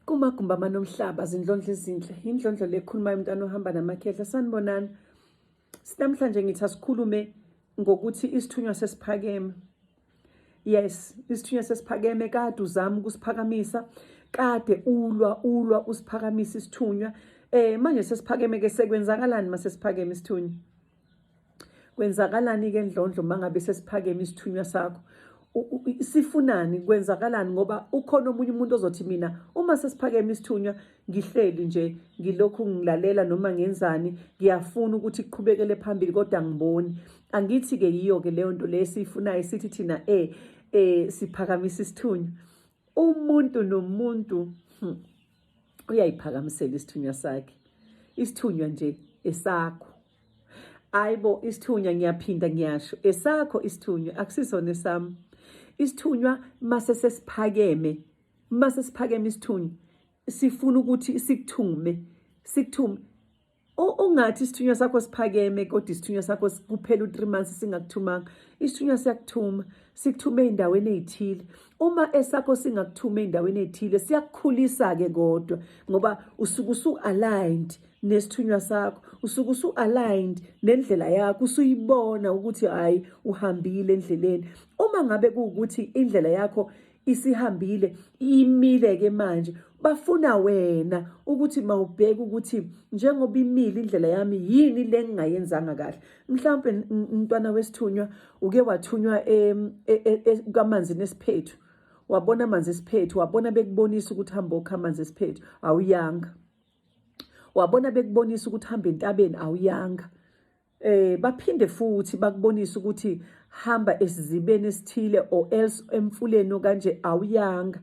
kumagumbi amanomhlaba zindlondlo ezinhle indlondlo le ekhulumayo umntana ohamba namakhehla sanibonani sinamhlanje ngithi asikhulume ngokuthi isithunywa sesiphakeme yes isithunywa sesiphakeme kade uzama ukusiphakamisa kade ulwa ulwa usiphakamisa isithunywa eh manje sesiphakeme ke sekwenzakalani mase siphakeme isithunywa kwenzakalani-ke ndlondlo uma ngabe sesiphakeme isithunywa sakho sifunani kwenzakalani ngoba ukhona omunye umuntu ozothi mina uma sesiphakeme isithunywa ngihleli nje ngilokhu ngilalela noma ngenzani ngiyafuna ukuthi kuqhubekele phambili kodwa ngiboni angithi-ke yiyo-ke leyo nto leyo esiyifunayo sithi thina e um siphakamisa isithunywa umuntu nomuntu hmm, uyayiphakamisela isithunywa sakhe isithunywa nje esakho ayibo isithunywa ngiyaphinda ngiyasho esakho isithunywa akusisona esami isithunywa mase sesiphakeme mase siphakeme isithunywa sifuna ukuthi sikuthungume sikuthume ungathi isithunywa sakho siphakeme kodwa isithunywa sakho kuphela u-3 months singakuthumanga isithunywa siyakuthuma sikuthume ey'ndaweni ey'thile uma esakho singakuthuma ey'ndaweni ey'thile siyakukhulisa-ke kodwa ngoba usuke usu-aligned nesithunywa sakho usuke usu-aligned nendlela yakho usuyibona ukuthi hhayi uhambile endleleni uma ngabe kuwukuthi indlela yakho isihambile imile ke manje bafuna wena ukuthi mawubheke ukuthi njengoba imile indlela yami yini le ngingayenzanga kahle mhlawumbe umntwana wesithunywa uke wathunywa kamanzi nesiphethu wabona amanzi esiphethu wabona bekubonisa ukuthi hamba okha amanzi esiphethu awuyanga wabona bekubonisa ukuthi hamba entabeni awuyanga eh baphinde futhi bakubonisa ukuthi hamba esizibeni esithile or else emfuleni okanje awuyanga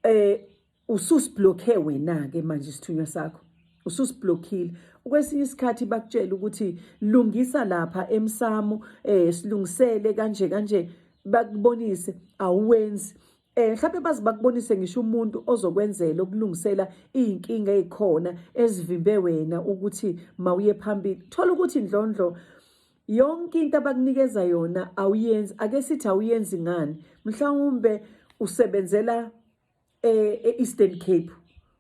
eh ususiblockhe wena ke manje isithunywa sakho ususiblockile kwesinye isikhathi bakutshela ukuthi lungisa lapha emsamo eh silungisele kanje kanje bakubonise awenzi Eh mhlawumbe bazi bakubonise ngisho umuntu ozokwenzela ukulungisela izinkinga ezikhona ezivimbe wena ukuthi mawuye phambili. Thola ukuthi indlondlo yonke into abakunikeza yona awuyenzi ake sithi awuyenzi ngani mhlawumbe usebenzela eh, e-Eastern Cape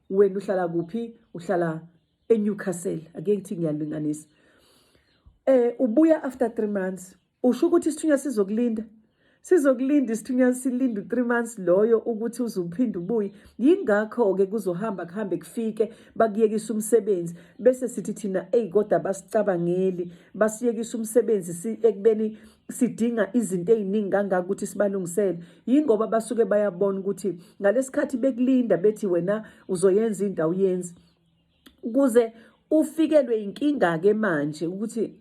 wena uhlala kuphi uhlala eNewcastle ake ngithi ngiyalinganisa eh ubuya after 3 months Usho ukuthi isithunywa sizokulinda sizokulinda isithunywa silinda u-three months loyo ukuthi uze uphinde ubuye yingakho-ke kuzohamba kuhambe kufike bakuyekisa umsebenzi bese sithi thina eyi kodwa basicabangeli basiyekisa umsebenzi ekubeni sidinga izinto eziningi kangaka ukuthi sibalungisele yingoba basuke bayabona ukuthi ngalesikhathi bekulinda bethi wena uzoyenza into awuyenzi kuze ufikelwe inkinga ke manje ukuthi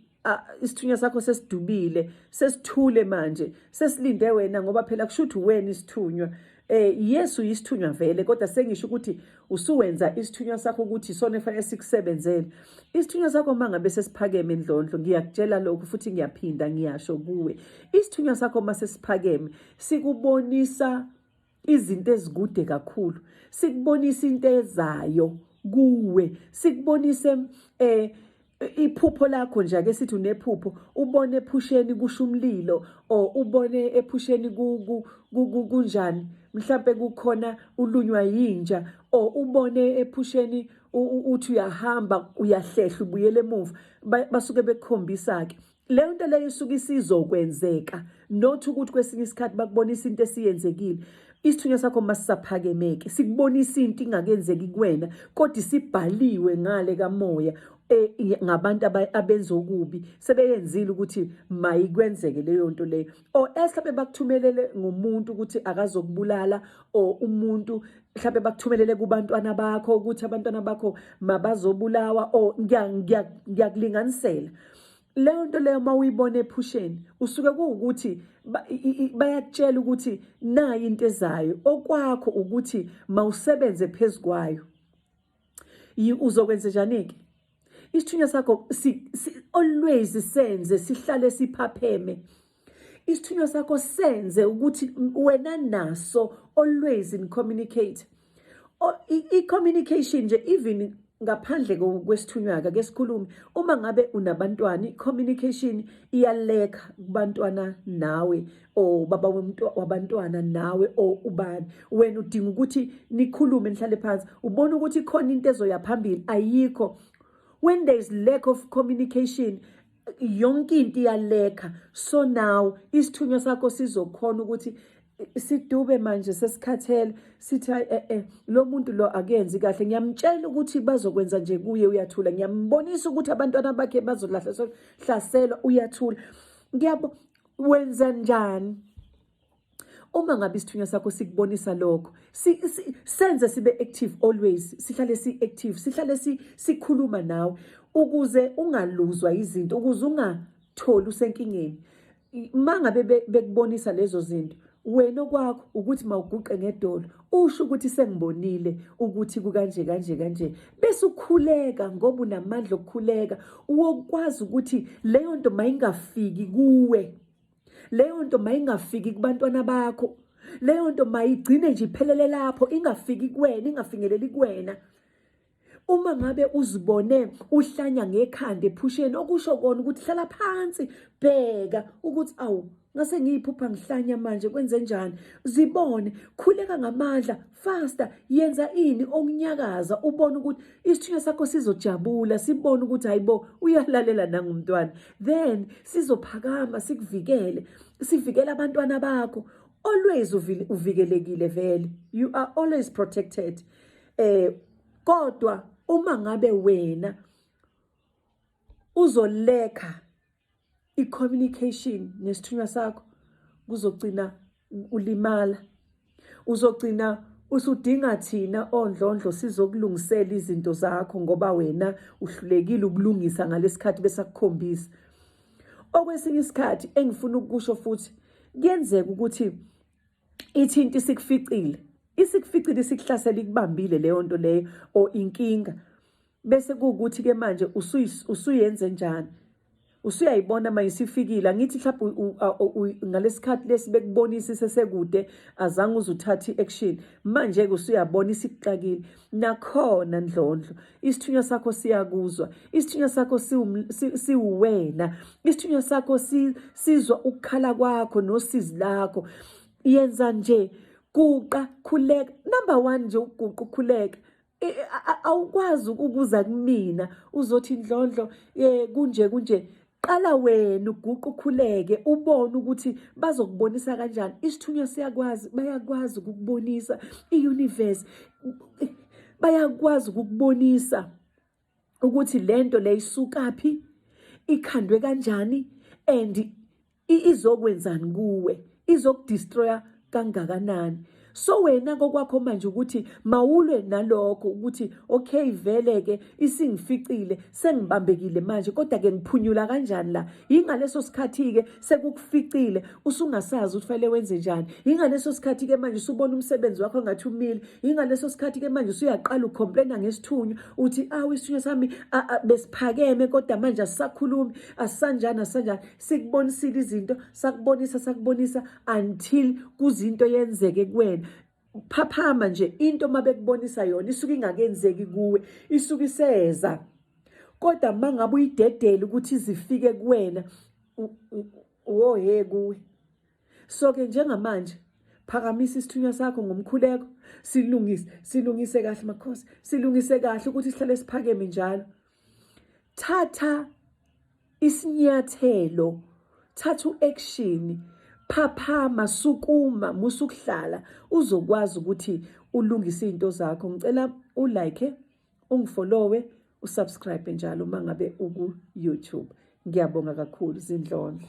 isithunywa sakho sesidubile sesithule manje sesilinde wena ngoba phela kusho ukuthi wena isithunywa eh Yesu isithunywa vele kodwa sengisho ukuthi usuwenza isithunywa sakho ukuthi isona efanele sikusebenzele isithunywa sakho mangabe sesiphakeme endlondlo ngiyakutshela lokho futhi ngiyaphinda ngiyasho kuwe isithunywa sakho masesiphakeme sikubonisa izinto ezikude kakhulu sikubonisa into ezayo kuwe sikubonise eh iphupho lakho nje ake sithi unephupho ubone ephusheni kusho umlilo or ubone ephusheni kunjani mhlambe kukhona ulunywa yinja or ubone ephusheni uthi uyahamba uyahlehla ubuyele emuva basuke bekukhombisa ke leyo nto leyo isuke isizokwenzeka not ukuthi kwesinye isikhathi bakubonisa into esiyenzekile isithunywa sakho masisaphakemeke sikubonisa into ingakenzeki kuwena kodwa isibhaliwe ngale kamoya e, ngabantu abenza okubi sebeyenzile ukuthi mayikwenzeke leyo nto leyo or ehlaphe bakuthumelele ngomuntu ukuthi akazokubulala or umuntu mhlawumbe bakuthumelele kubantwana bakho ukuthi abantwana bakho mabazobulawa or ngiyakulinganisela leyo nto leyo uma uyibona ephusheni usuke kuwukuthi bayakutshela ukuthi nayi into ezayo okwakho ukuthi mawusebenze phezu kwayo uzokwenze njani-ke isithunywa sakho always senze sihlale siphapheme si, Isithunywa sakho senze ukuthi wena naso always in communicate. I-communication nje even ngaphandle kwesithunywa-ke ke sikhulume uma ngabe unabantwana i-communication iyaleka kubantwana nawe or baba wabantwana nawe or ubani wena udinga ukuthi nikhulume nihlale phansi ubona ukuthi khona into ezoya phambili ayikho when there is lack of communication yonke into iyalekha so now isithunywa sakho sizokhona ukuthi sidube manje sesikhathele sithi hayi eh eh lo muntu lo akenzi kahle ngiyamtshela ukuthi bazokwenza nje kuye uyathula ngiyambonisa ukuthi abantwana bakhe bazolahlaselwa uyathula ngiyabo wenza njani Uma ngabe isithunywa sakho sikubonisa lokho, si, si, senze sibe active always, sihlale si active, sihlale si, sikhuluma nawe ukuze ungaluzwa izinto, ukuze ungatholi usenkingeni. Mangabe bekubonisa lezo zinto, wena okwakho ukuthi mawuguqe ngedolo usho ukuthi sengibonile ukuthi kukanje kanje kanje bese ukhuleka ngoba unamandla okukhuleka wokwazi ukuthi leyo nto mayingafiki kuwe leyo nto mayingafiki kubantwana bakho leyo nto mayigcine nje iphelele lapho ingafiki kuwena ingafinyeleli kuwena uma ngabe uzibone uhlanya ngekhanda ephusheni okusho kona ukuthi hlala phansi bheka ukuthi awu ngase ngiyiphupha ngihlanya manje kwenze njani zibone khuleka ngamandla fasta yenza ini okunyakaza ubone ukuthi isithunywa sakho sizojabula sibone ukuthi hayibo uyalalela nangumntwana then sizophakama sikuvikele sivikele abantwana bakho always uvikelekile vele you are always protected eh kodwa uma ngabe wena uzoleka i-communication nesithunywa sakho kuzogcina ulimala uzogcina usudinga thina ondlondlo sizokulungisela izinto zakho ngoba wena uhlulekile ukulungisa ngalesikhathi besakukhombisa okwesinye isikhathi engifuna ukusho futhi kuyenzeka ukuthi ithinti sikuficile isikuficile isikuhlasela ikubambile leyo nto leyo or inkinga bese kuwukuthi ke manje usuyenze njani usuyayibona manje isifikile angithi mhlawumbe ngalesikhathi lesi bekubonisa isesekude azange uze uthathe i-action manje-ke usuyabona isikuxakile nakhona ndlondlo isithunywa sakho siyakuzwa isithunywa sakho siwuwena isithunywa sakho sizwa ukukhala kwakho nosizi lakho yenza nje guqa khuleka number one nje uguqa ukhuleka E, e, awukwazi ukuza kumina uzothi ndlondlo eh kunje kunje qala wena uguqu ukhuleke ubone ukuthi bazokubonisa kanjani isithunywa siyakwazi bayakwazi ukukubonisa iuniverse bayakwazi ukukubonisa ukuthi lento le isukaphi ikhandwe kanjani and izokwenzani kuwe izokudestroya kangakanani so wena kokwakho manje ukuthi mawulwe nalokho ukuthi okay vele ke isingificile sengibambekile manje kodwa ke ngiphunyula kanjani la ingaleso sikhathi ke sekukuficile usungasazi ukuthi fanele wenze njani yingaleso sikhathi ke manje usubona umsebenzi wakho ngathi umile yingaleso sikhathi ke manje usuyaqala ucomplaina ngesithunywa uthi awu isithunywa sami besiphakeme kodwa manje asisakhulumi asisanjani asisanjani sikubonisile izinto sakubonisa sakubonisa until kuzinto yenzeke kuwena Ukuphaphama nje into uma bekubonisa yona isuke ingakenzeki kuwe, isuke iseza. Kodwa uma ngabe uyidedele ukuthi izifike kuwena wohe kuwe. So-ke njengamanje phakamisa isithunywa sakho ngomkhuleko silungise silungise kahle makhosi silungise kahle ukuthi sihlale siphakeme njalo thatha Isinyathelo, thatha u-action, phaphama, sukuma, musa ukuhlala uzokwazi ukuthi ulungise izinto zakho. Ngicela ulike, ungifollowe, usubscribe njalo uma ngabe uku-YouTube. Ngiyabonga kakhulu, zindlondlo.